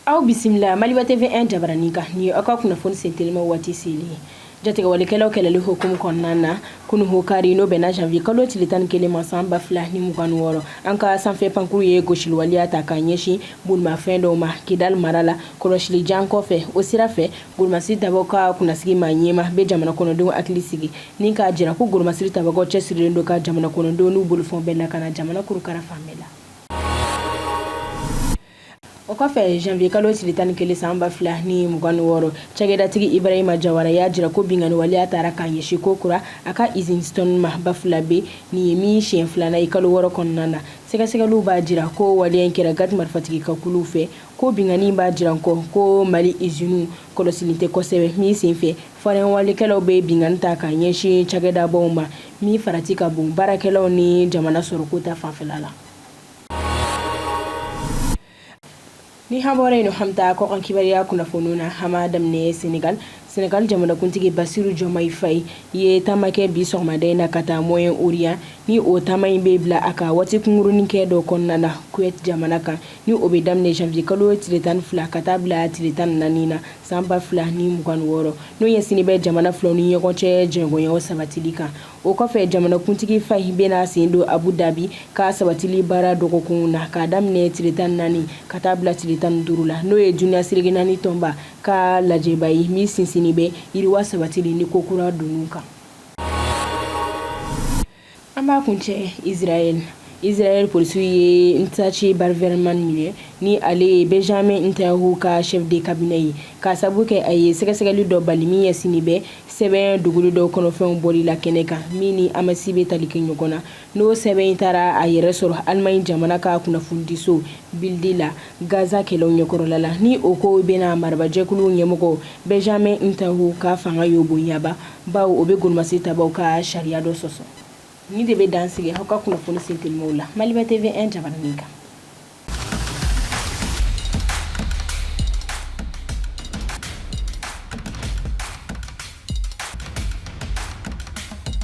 aw bisimila maliba TV un jabaranin kan nin ye aw ka kunnafoni sentelima waati selen ye jatigɛwalekɛlaw kɛlɛli hukumu kɔnɔna na kunu o kari n'o bɛnna janvier kalo tile tan ni kelen ma san ba fila ni mugan ni wɔɔrɔ an ka sanfɛ pankuru ye gosili waleya ta ka ɲɛsin bolimafɛn dɔw ma kidali mara la kɔlɔsili jan kɔfɛ o sira fɛ Golomasiri tabagaw ka kunnasigi maa ɲɛmaa bɛ jamana kɔnɔdenw hakili sigi ni k'a jira ko golomasiri tabagaw cɛsirilen don ka jamana kɔnɔdenw n'u bolofɛnw bɛɛ lakana jamana kurukara fan bɛɛ la. O kɔfɛ janvier kalo tile tan ni kelen san ba fila ni mugan ni wɔɔrɔ cakɛdatigi Ibrahima Jawara y'a jira ko binkanni waleya taara ka ɲɛsin kokura a ka izini Stone ma Bafulabe nin ye min siɲɛ filanan ye kalo wɔɔrɔ kɔnɔna na sɛgɛsɛgɛliw b'a jira ko waleya in kɛra GAT marifatigi ka kuluw fɛ ko binkanni b'a jira an kɔ ko mali iziniw kɔlɔsilen tɛ kosɛbɛ min senfɛ farinwalekɛlaw bɛ binkanni ta ka ɲɛsin cakɛdabaw ma min farati ka bon baarakɛlaw ni jamana sɔrɔko ta fanfɛla la ni an bɔra yen an bɛ taa kɔkan kibariya kunnafoniw na an b'a daminɛ senegal senegal jamanakuntigi basiru jɔmayi fayi ye taama kɛ bi sɔgɔmada in na ka taa moyen orient ni o taama in bɛ bila a ka waati kunkurunin kɛ dɔ kɔnɔna na kuwait jamana kan ni o bɛ daminɛ janvier kalo tile tan ni fila ka taa bila tile tan ni naani na san ba fila ni mugan ni wɔɔrɔ n'o ɲɛsinnen bɛ jamana filaw ni ɲɔgɔn cɛ jɛɲɔgɔnyaw sabatili kan o kɔfɛ jamanakuntigi fayi bɛna sen don abu dabi ka sabatili baara dɔgɔkunw na k'a daminɛ tile tan ni naani ka taa bila tile tan ni duuru la n'o ye duniya seleke naani tɔnba ka lajɛba ye min sinsinnen bɛ yiriwa sabatili ni ko kura donni kan an b'a kuncɛ israɛl israɛl polisiw ye ntaci braverman minɛ ni ale ye benjamin netanyahu ka chef de cabinet ye k'a sabu kɛ a ye sɛgɛsɛgɛli dɔ bali min ɲɛsinnen bɛ sɛbɛn dogolen dɔw kɔnɔfɛnw bɔli la kɛnɛ kan min ni hamasi bɛ tali kɛ ɲɔgɔn na n'o sɛbɛn in taara a yɛrɛ sɔrɔ alemaɲi jamana ka kunnafonidiso bildi la gaza kɛlɛw ɲɛkɔrɔla la ni o kow bɛna marabajɛkulu ɲɛmɔgɔ benjamin netanyahu ka fanga y'o bonyaba bawo o bɛ golomasiri tabaaw ka sariya dɔ sɔsɔ nin de bɛ dan sigi aw ka kunnafoni sentelimaw la maliba TV un jabaranin kan